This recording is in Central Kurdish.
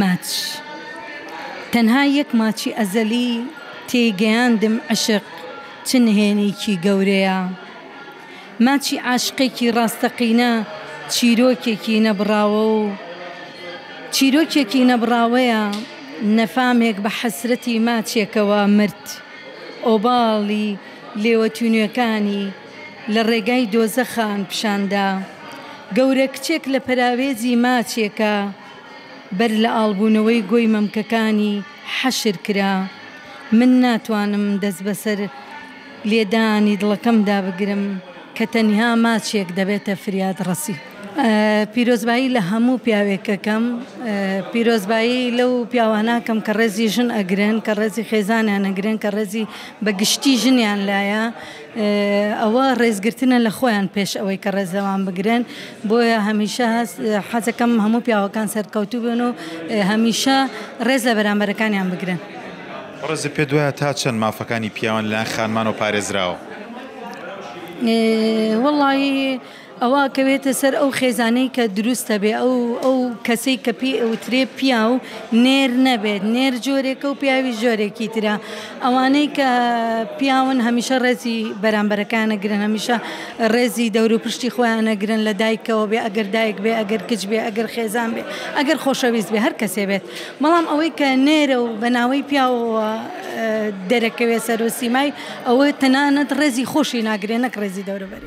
ماچ تەنها یەک ماچی ئەزەلی تێی گەیاندم عەشق چ نهێنیکی گەورەیە ماچی عاشقێکی ڕاستەقینە چیرۆکێکی نەبڕاوە و چیرۆکێکی نەبڕاوەیە نەفامێک بە حەسرەتی ماچێکەوە مرد ئۆباڵی لێوە تینوێکانی لە ڕێگای دۆزەخان پیشاندا گەورە کچێک لە پەراوێزی ماچێکە بەر لە ئاڵبوونەوەی گۆی مەمکەکانی حەشر کرا. من ناتوانم دەست بەسەر لێدانی دڵەکەمدا بگرم کە تەنها ماچێک دەبێتە فریادڕەسی. پیرۆزبایی لە هەموو پیاوێک ئەکەم، پیرۆزبایی لەو پیاوانە ئەکەم کە ڕێزی ژن ئەگرن، کە ڕێزی خێزانیان ئەگرن، کە ڕێزی بە گشتی ژنیان لایە. ئەوە ڕێزگرتنە لە خۆیان پێش ئەوەی کە ڕێز لەوان بگرن بۆیە هەمیشە حەزەکەم هەموو پیاوەکان سەرکەوتوو بن و هەمیشە ڕێز لە بەرامبەرەکانیان بگرن. بەڕێزت پێت وایە تا چەند مافەکانی پیاوان لەلایەن خانمانەوە پارێزراوە؟ وەڵڵاهی. ئەوا ئەکەوێتە سەر ئەو خێزانەی کە دروستە بێ ئەو ئەو کەسەی کە پێی ئەوترێ پیاو نێر نەبێت نێر جۆرێکە و پیاوی جۆرێکی ترە ئەوانەی کە پیاون هەمیشە ڕێزی بەرامبەرەکانە گرن هەمیشە ڕێزی دەورو پشتی خۆیانە گرن لە دایکەوە بێ ئەگەر دایک بێ ئەگەر کچ بێ ئەگەر خێزان بێ ئەگەر خۆشەویست بێ هەر کەسێ بێت بەڵام ئەوەی کە نێرە و بە ناوەی پیاوەوە دەرەکەوێ سەرۆ سیمای ئەوە تەنانەت ڕێزی خۆشی ناگرێ نەک ڕێزی دەورو بەری.